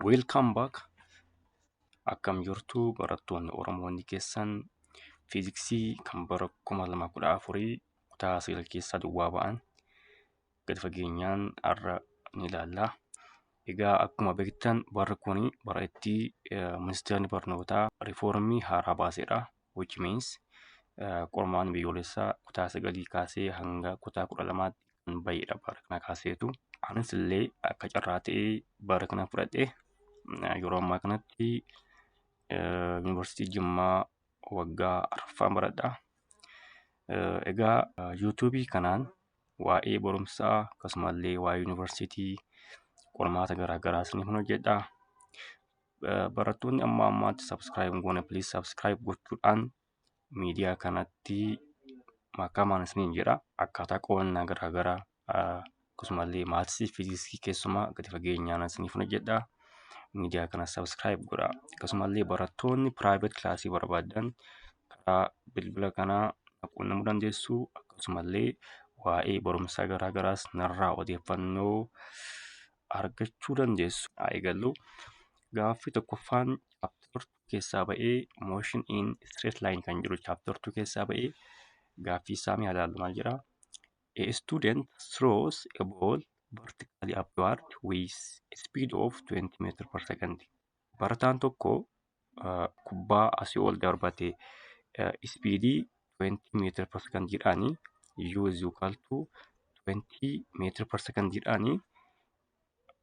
Welcome back. Akkam jirtu barattoonni Oromoonni keessan fiiziksii kan bara 2014 kutaa 9 keessaa duwwaa ba'an gadi fageenyaan har'a ni ilaalla. Egaa akkuma beektan barri kun bara itti eh, ministeerri barnootaa riifoormii haaraa baasedha. which means qormaanni biyyoolessaa kutaa sagalii kaasee hanga kutaa kudha lamaatti kan baheedha bara kana kaaseetu. Anis illee akka carraa ta'ee bara kana fudhadhe yeroo ammaa kanatti yuunivarsiitii Jimmaa waggaa arfaffaan baradha. Egaa yuutuubii kanaan waa'ee barumsaa akkasumallee waa'ee yuunivarsiitii qormaata garaagaraa isiniif hojjedha. barattoonni amma ammaatti subscribe hin goone please subscribe gochuudhaan miidiyaa kanatti makamaan isiniin jedha akkaataa qo'annaa garaagaraa akkasumallee maatisii fiiziksii keessumaa gadi fageenyaan isiniif hojjedha miidiyaa kana subscribe godha akkasumallee barattoonni private kilaasii barbaadan karaa bilbila kanaa quunnamuu dandeessu akkasumallee waa'ee barumsaa garaagaraas narraa odeeffannoo argachuu dandeessu. Haa eegallu. Gaaffii tokkoffaan chapter 2 keessaa ba'ee motion in straight line kan jiru chapter 2 keessaa ba'ee gaaffii isaa mee ilaallu maal jedha? A student throws a ball vertically upward with a speed of 20 meter per second. Barataan tokko kubbaa asii ol darbate ispiidii 20 meetira per second jedhaani u is equal to 20 meetira per second jedhaani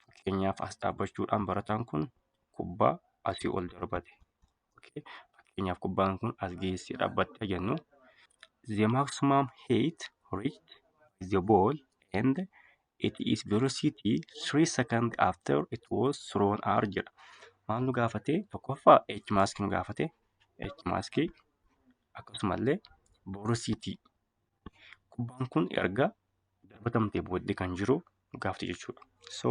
fakkeenyaaf as dhaabbachuudhaan barataan kun kubbaa asii ol darbate fakkeenyaaf kubbaan kun as geessee dhaabbatte jennu the maximum height reached the ball and It is velocity three seconds after it was thrown r jedha. Maal nu gaafate? Tokkoffaa h maaskii nu gaafate. h maaskii akkasumallee velocity kubbaan kun erga darbatamtee booddee kan jiru nu gaafate jechuudha. So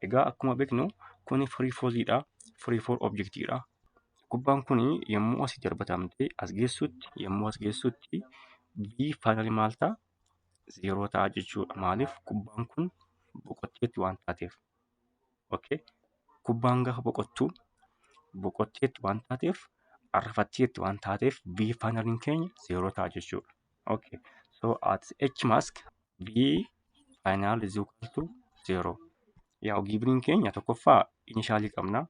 egaa akkuma beeknu kuni free fallidha. Free fall objectidha. Kubbaan kun yommuu asii darbatamtee as geessutti yommuu as geessutti v finally maal ta'a? zeeroo ta'a jechuudha. Maaliif kubbaan kun boqotteetti waan taateef. Okay. Kubbaan gaafa boqottu boqotteetti waan taateef arrafatteetti waan taateef B faayinaliin keenya zeeroo ta'a jechuudha. Okay. So at H mask B faayinaal is equal to zeeroo. Yaa giibiriin keenya tokkoffaa inishaalii qabna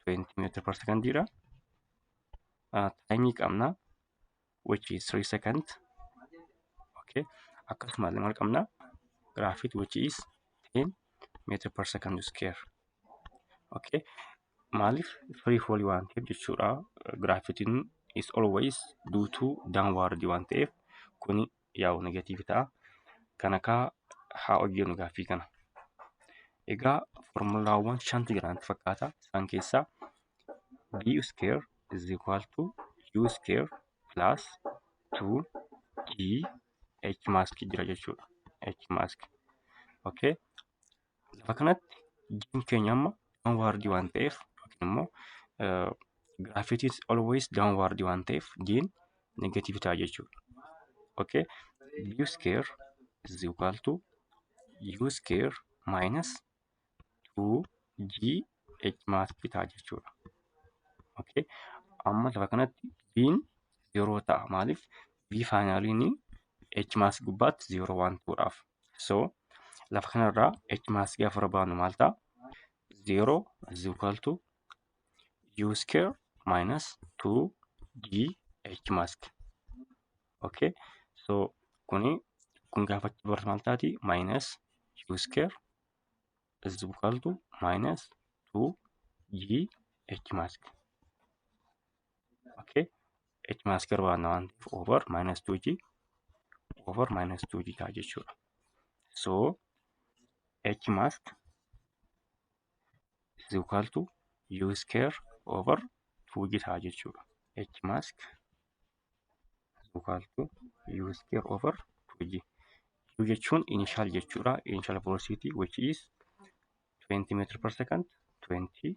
20 meetira per sekondiidha. Taayimii qabna which is 3 second okay akkasuma illee maal qabna graafit which is 10 meter per second square okay maaliif free fall waan ta'eef jechuudha graafitiin is always due to downward waan ta'eef kuni yaa'u negatiivi ta'a. Kana kaa haa hojjennu gaaffii kana. Egaa formulaawwan shantu jira natti fakkaata. Isaan keessaa b square is equal to u square plus 2 g h mask jira jechuudha. h mask. Okay. Lafa kanatti jiin keenya amma downward waan ta'eef yookiin immoo gravity is always downward waan ta'eef jiin negative ta'a jechuudha. Okay. U square is equal to U square minus 2GH mass ta'a jechuudha. Okay. Amma lafa kanatti jiin yeroo ta'a maaliif V faayinaaliin H mass gubbaatti yeroo waan ta'uudhaaf. So lafa kanarraa h maas gaafa barbaadnu maal ta'a? 0 is equal to u square minus 2gh mask. Okay. So kuni kun gaafa achi barru maal taati? Minus u square is equal to minus 2gh mask. okay h minus square waan waan ta'eef over minus 2g over minus 2g ta'a jechuudha so h mask is equal to u square over 2g ta'a jechuudha h mask is equal to u square over 2g u jechuun initial jechuudha initial velocity which is 20 meter per second 20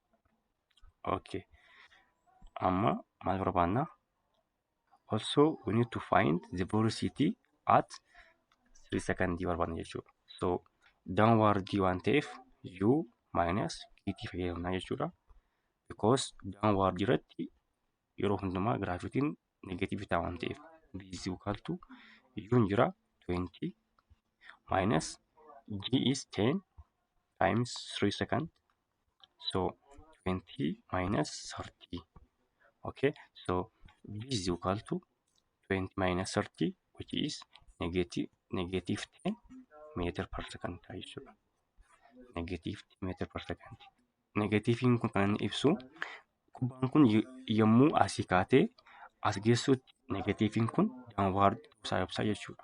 okay amma maal barbaanna also we need to find the velocity at 3 second barbaanna jechuudha so downward waan ta'eef u minus gt fayyadamna jechuudha because downward irratti yeroo hundumaa giraafitiin negatiivii ta'a waan ta'eef bc ukaaltu yuun jira 20 minus g is 10 times 3 second so 20 minus 30 okay so b is equal to 20 minus 30 which is negative negative 10 meter per second ta'a jechuudha negative 10 meter per second negatiiviin kun kan inni ibsu kubbaan kun y- yommuu asii kaatee as geessuutti negatiiviin kun downward ibsaa ibsaa jechuudha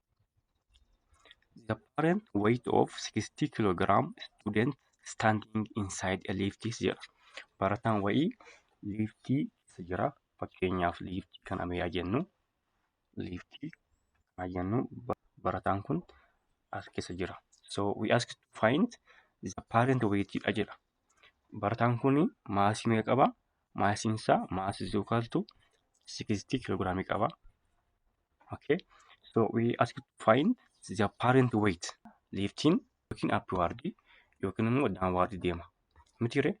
The parent weight of 60 kilogram student standing inside a lift is jedha. Barataan wayii liiftii keessa jira. Fakkeenyaaf liiftii kana mee haa jennu. Liiftii kana haa jennu. Ba- Barataan kun as keessa jira. So we ask to find the parent weight dha jedha. Barataan kun maasii meeqa qaba? Maasiin isaa maasii is equal to 60 kiloogiraamii qaba. Okay. So we ask to find the parent weight lifting yookiin upward yookiin immoo downward deema. Miti ree?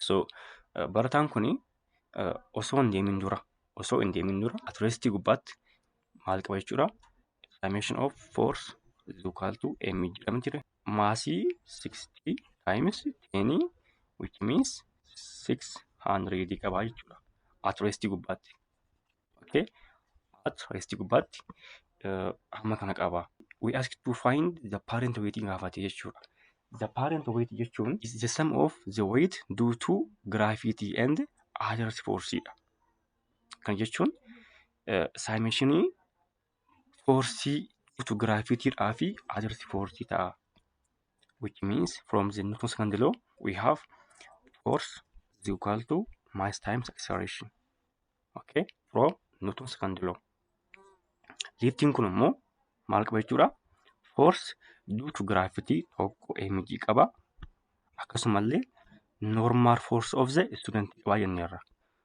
So uh, barataan kun uh, osoo hin deemin dura osoo hin deemin dura at rest gubbaatti maal qaba jechuudha. Dimension of force is equal to m jedhama jira. Maasii 60 times 10 which means 600 qaba jechuudha. At rest gubbaatti. Okay. At rest gubbaatti uh, hamma kana qaba. We ask to find the parent weight gaafate jechuudha. The parent weight jechuun is the sum of the weight due to gravity and other force dha. Kan jechuun saayimeshinii foorsii fotogiraafiitiidhaa fi adarsi foorsii ta'a. Which means from the nucleus kan diloo we have force is equal to mass times acceleration. Okay? From nucleus kan diloo. Liiftiin kun immoo maal qaba jechuudha? Force due to gravity tokko mg qaba. Akkasumallee normal force of the student qaba jenneerra.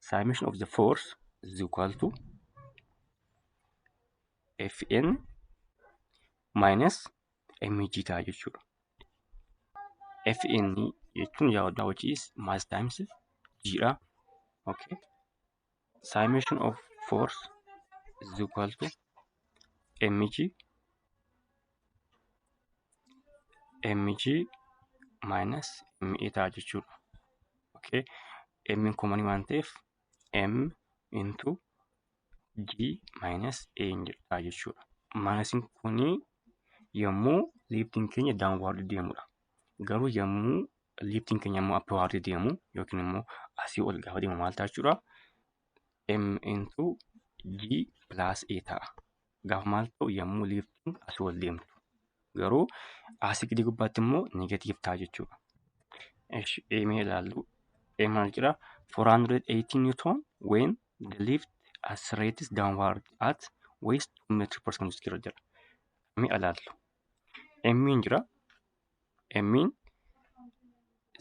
summation of the force is equal to fn minus mg ta'a jechuudha. fn jechuun yaa waddaa which is mass times g dha. Okay. Summation of force is equal to mg mg minus ma ta'a jechuudha. Okay. m komanii waan ta'eef m into g minus a hin jedhaa jechuudha. Maayinasiin kuni yommuu liiftiin keenya daawwaarra deemudha. Garuu yommuu liiftiin keenya immoo appiwaarra deemu yookiin immoo asii ol gaafa deemu maal ta'a jechuudha? m into g plus a ta'a. Gaafa maal ta'u yommuu liiftiin asii ol deemtu. Garuu asii gadi gubbaatti immoo negatiiv ta'a jechuudha. Esh eemee ilaallu. Ee maal jira? 480 Newton when the lift accelerates downward at waist 2 meter per second jira jira. Mee ilaallu. Emmiin jira. Emmiin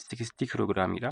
60 kiloogiraamiidha.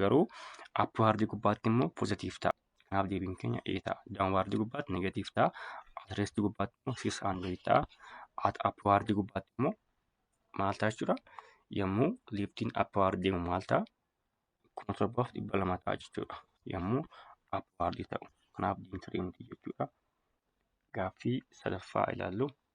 Garuu upward gubbaatti immoo positive ta'a. Kanaaf deebiin keenya A ta'a. Downward gubbaatti negative ta'a. At rest gubbaatti immoo 600 ta'a. At upward gubbaatti immoo maal ta'a jechuudha? Yommuu liftiin upward deemu maal ta'a? 7200 ta'a jechuudha. Yommuu upward ta'u. Kanaaf diintirii miti jechuudha. Gaaffii sadaffaa ilaallu.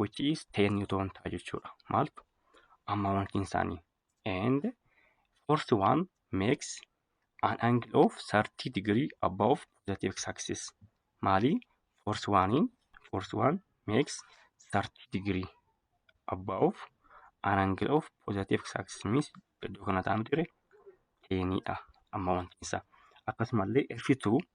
which is 10 newton ta'a jechuudha maaltu ammaawwantiin isaanii and force one makes an angle of 30 degree above positive x axis maali force one in force one makes 30 degree above an angle of positive x axis means iddoo kana ta'an ture teenidha ammaawwantiin isaa akkasumallee F2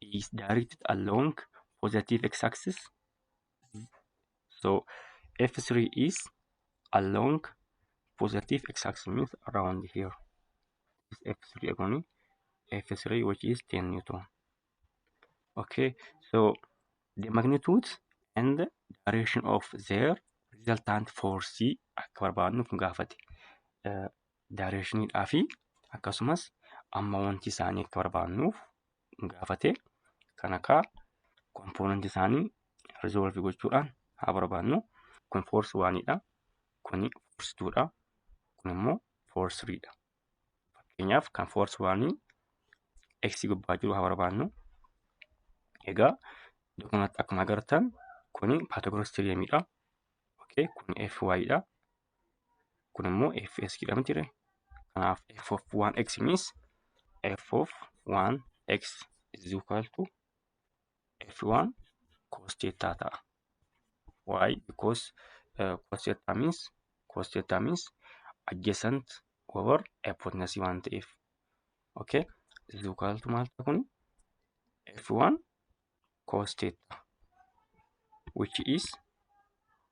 is directed along positive x axis so f3 is along positive x axis means around here is f3 agoni f3 which is 10 newton okay so the magnitude and the direction of their resultant force akka barbaadnuuf nu gaafate directionidhaa fi akkasumas amma wanti isaanii akka barbaadnuuf gaafate kan akka kompoonanti isaanii rizoolvi gochuudhaan haa barbaannu kun foorsi waaniidha kun foorsi tuudha kun immoo foorsi siriidha fakkeenyaaf kan foorsi waanii x gubbaa jiru haa barbaannu egaa iddoo kanatti akkuma agartan kun paatogorastiriyemiidha okay kun fy dha kun immoo fs jedhama jira kanaaf f of 1x means f of 1x is equal to f1 cos theta ta'a why because uh, cos theta means cos theta means adjacent over hypotenuse waan ta'eef okay is equal to maal ta'a kun f1 cos theta which is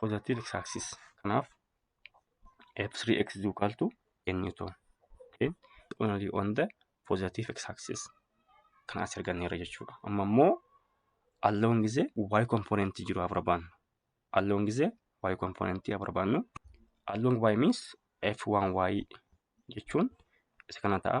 positive x axis kanaaf f3x is equal to n newton okay only on the positive x axis kan as arganneerra jechuudha amma immoo alloon gisee y component jiru haa barbaannu alloon gisee y component haa barbaannu alloon y means f1y jechuun isa kana ta'a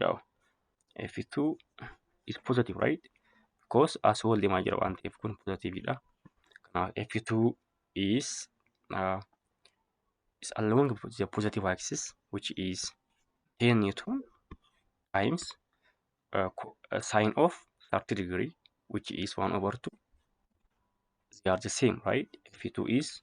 yaa'u f2 is positive right because as wal deemaa jira waan ta'eef kun positive dha kanaaf f2 is uh, is along the positive axis which is 10 newton times uh, co- uh, sine of 30 degree which is 1 over 2 they are the same right f2 is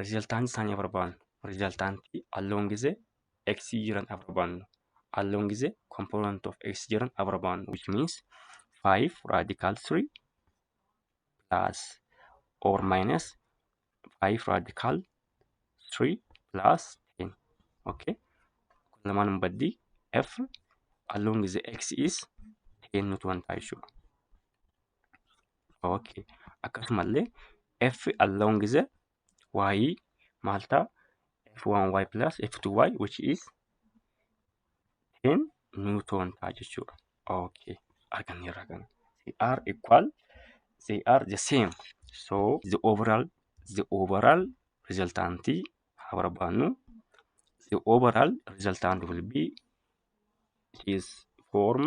Riizaltaantii isaanii haa barbaannu. Riizaltaantii alloon gizee x jiran haa barbaannu. Alloon gizee component of x jiran haa barbaannu. Which means 5 radical 3 plus or minus 5 radical 3 plus 10. Okay. Lamaan hin baddii f alloon gizee x is 10 nutu wanta jechuudha. okay akkasumallee f along the y maal ta'a f1y plus f2y which is 10 newton ta'a jechuudha okay arganneerra kana they are equal they are the same so the overall the overall resultant haa barbaannu the overall resultant will be is form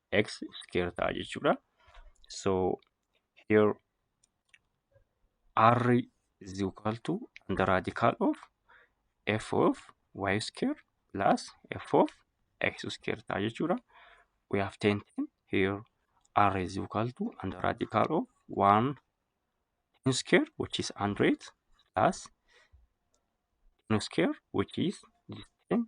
x square ta'a jechuudha. So here r is equal to under radical of f of y square plus f of x square ta'a jechuudha. We have 10 10 here r is equal to under radical of 1 10 square which is 100 plus 10 square which is 10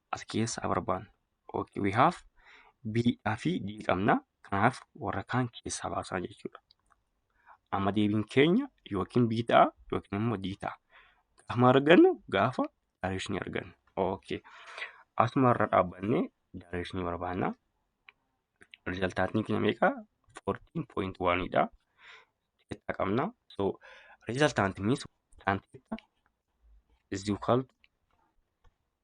as keessa barbaannu. Okay, we have B dhaa fi D qabna. Kanaaf warra kaan keessaa baasaa jechuudha. Amma deebiin keenya yookiin B ta'a yookiin immoo D ta'a. Gaafa argannu gaafa direction argannu. Okay. Asuma irra dhaabbannee direction barbaanna. Riizaltaatiin keenya meeqa? 14.1 dha. Teettaa qabna. So, riizaltaantiin means tan teettaa is equal to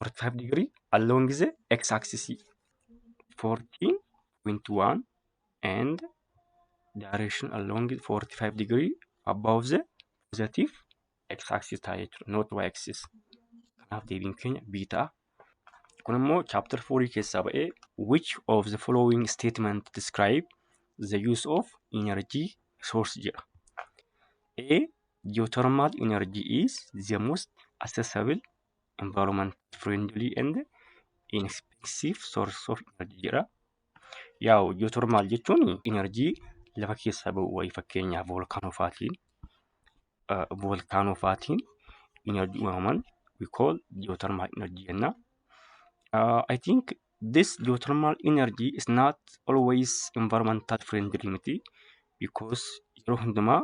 45 degree along the x axis 14.1 and direction along 45 degree above the positive x axis ta'a jechuudha not y axis kanaaf deebiin keenya b ta'a kun immoo chapter 4 keessaa ba'ee which of the following statement describe the use of energy source jedha a geothermal energy is the most accessible environment friendly and inexpensive source of energy jedha. Yaa'u geothermal jechuun energy lafa keessaa ba'u wayii fakkeenyaaf volkaanoo faatiin volkaanoo faatiin energy uumaman we call geothermal energy jenna. Uh, I think This geothermal energy is not always environmental friendly miti because yeroo hundumaa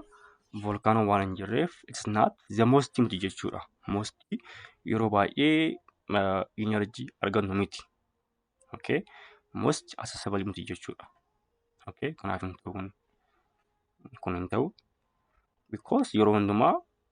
volkaanoo waan hin jirreef it's not the most miti jechuudha. Most yeroo baay'ee uh, energy argannu miti. Okay? Most accessible miti jechuudha. Okay? Kanaaf hin ta'u kun hin ta'u because yeroo hundumaa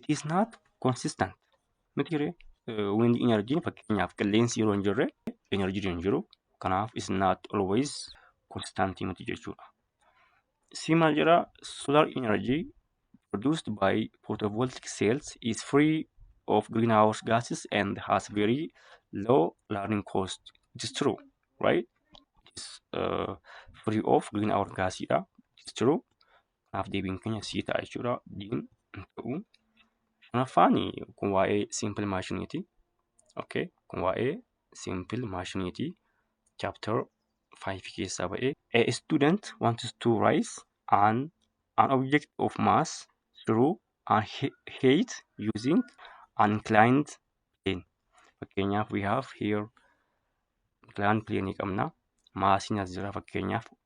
it is not consistent miti ree wind energy fakkeenyaaf qilleensi yeroo hin jirre energy hin jiru kanaaf is not always consistent miti jechuudha si maal jedha solar energy produced by photovoltaic cells is free of greenhouse gases and has very low learning cost it is true right it is uh, free of greenhouse gas dha it is true Kanaaf deebiin keenya sii ta'a jechuudha. Diin hin ta'u. Shanaffaan kun waa'ee simple maashiniiti. Okay. Kun waa'ee simple maashiniiti. Chapter 5 keessaa ba'ee. A student wants to rise an, an object of mass through an he- height using an inclined plane. Fakkeenyaaf we have here inclined plane qabna. Maasiin as jira fakkeenyaaf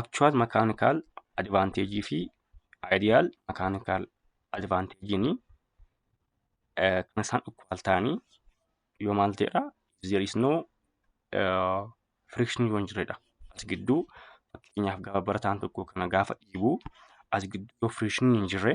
Actual mechanical advantage fi ideal mechanical advantage ni eh, kan isaan equal ta'anii yoo maal ta'edha if there is no eh, friction yoo hin jirredha as gidduu fakkeenyaaf gaafa barataan tokko kana gaafa dhiibu as gidduu yoo friction hin jirre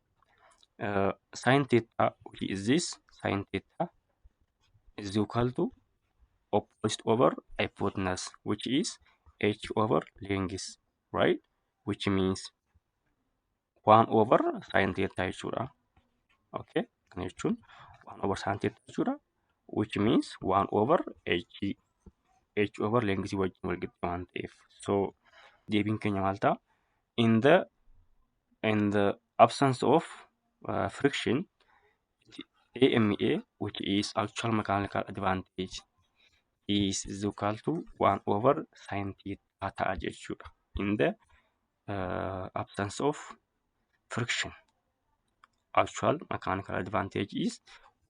uh, sin theta which is this sin theta is equal to opposite over hypotenuse which is h over length right which means 1 over sin theta jechuudha okay kana jechuun 1 over sin theta jechuudha which means 1 over h h over length wajjin wal qixxee waan ta'eef so deebiin keenya maal ta'a in the and the absence of uh, friction AMA which is actual mechanical advantage is is equal to 1 over sin theta ta'a jechuudha in the uh, absence of friction actual mechanical advantage is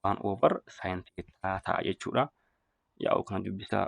1 over sin theta ta'a jechuudha yaa'u kana dubbisaa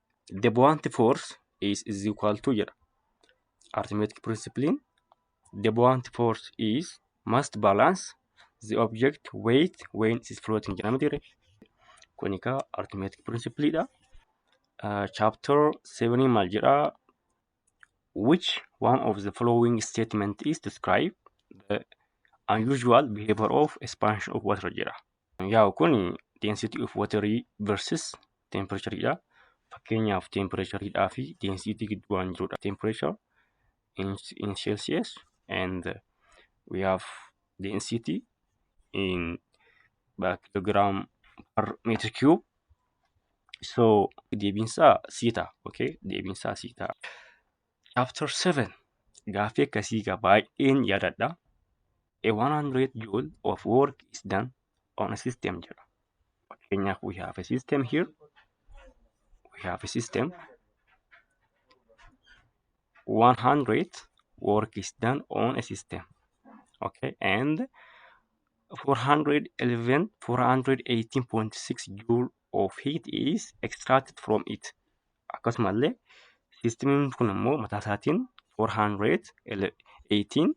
the buoyant force is is equal to jedha arithmetic principle the buoyant force is must balance the object weight when it is floating jedhama ture kun egaa arithmetic principle dha chapter 7 maal jedha which one of the following statement is describe the unusual behavior of expansion of water jedha. Yaa'u kun density of water versus temperature dha. Fakkeenyaaf temperature dhaa fi density gidduu waan jirudha. Temperature in, in Celsius and we have density in kilogram per meter cube so deebiinsaa sii ta'a okay deebiinsaa sii ta'a chapter 7 gaaffii akkasii egaa baay'een yaadadha a 100 joule of work is done on a system jedha fakkeenyaaf we have a system here we have a system 100 work is done on a system okay and 411 418.6 joule of heat is extracted from it akkasumallee siistimiin kun immoo mataa isaatiin 418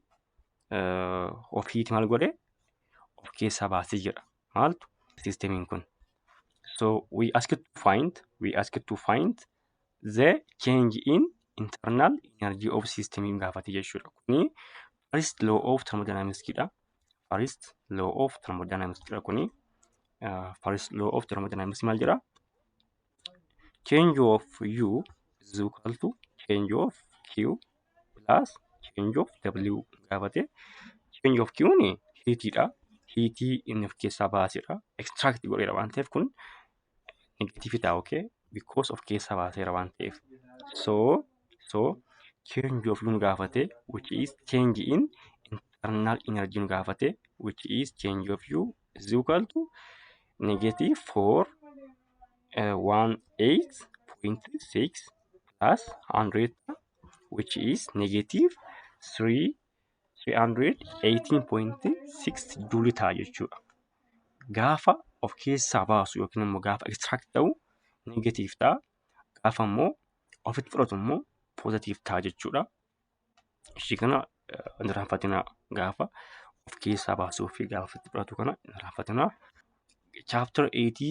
of heat maal godhe of keessaa baasee jira maaltu siistimiin kun so we ask to find we ask to find the change in internal energy of system hin gaafate jechuudha. Kuni first law of thermodynamics dha. First law of thermodynamics dha kuni. Uh, first law of thermodynamics maal jedha? Change of U is equal to change of Q plus change of W gaafate. Change of Q ni heat dha. Heat inni of keessaa baasedha. Extract godheera waan ta'eef kun negative ta'a okay because of keessaa baaseera waan ta'eef so so change of nu gaafate which is change in internal energy nu gaafate which is change of u is equal to negative 4 uh, 18.6 plus 100 which is negative 3 318.6 juuli ta'a jechuudha. Gaafa of keessaa baasu yookiin immoo gaafa ekstiraakti ta'u negatiif ta'a. Gaafa immoo ofitti fudhatu immoo poozatiif ta'a jechuudha. Ishii kana hin irraanfatinaa gaafa of keessaa baasuu fi gaafa ofitti fudhatu kana hin irraanfatinaa. Chaaptara 8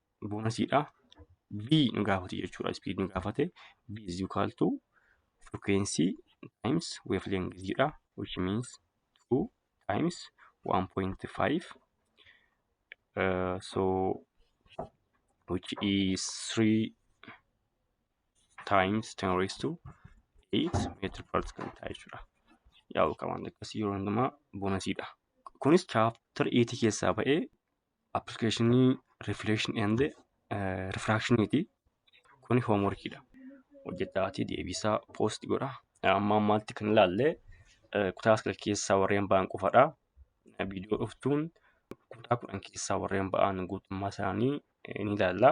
boonasiidha. V nu gaafate jechuudha. Speed nu gaafate. V is equal to frequency times wavelength jedha. Which means 2 times 1.5. Uh, so which is 3 times 10 raised to 8 meter per second ta'a jechuudha. Yaa'u qaban akkasii yeroo hundumaa boonasiidha. Kunis chapter 8 keessaa ba'ee Appilikeeshinii Reflection and Refraction ti. Kun homework dha. Hojjedhaatii deebisaa post godha. Amma ammaatti kan ilaalle eh, kutaa sagal keessaa warreen ba'an qofadha. Eh, Viidiyoo dhuftuun kutaa kudhan keessaa warreen ba'an guutummaa isaanii eh, ni ilaalla.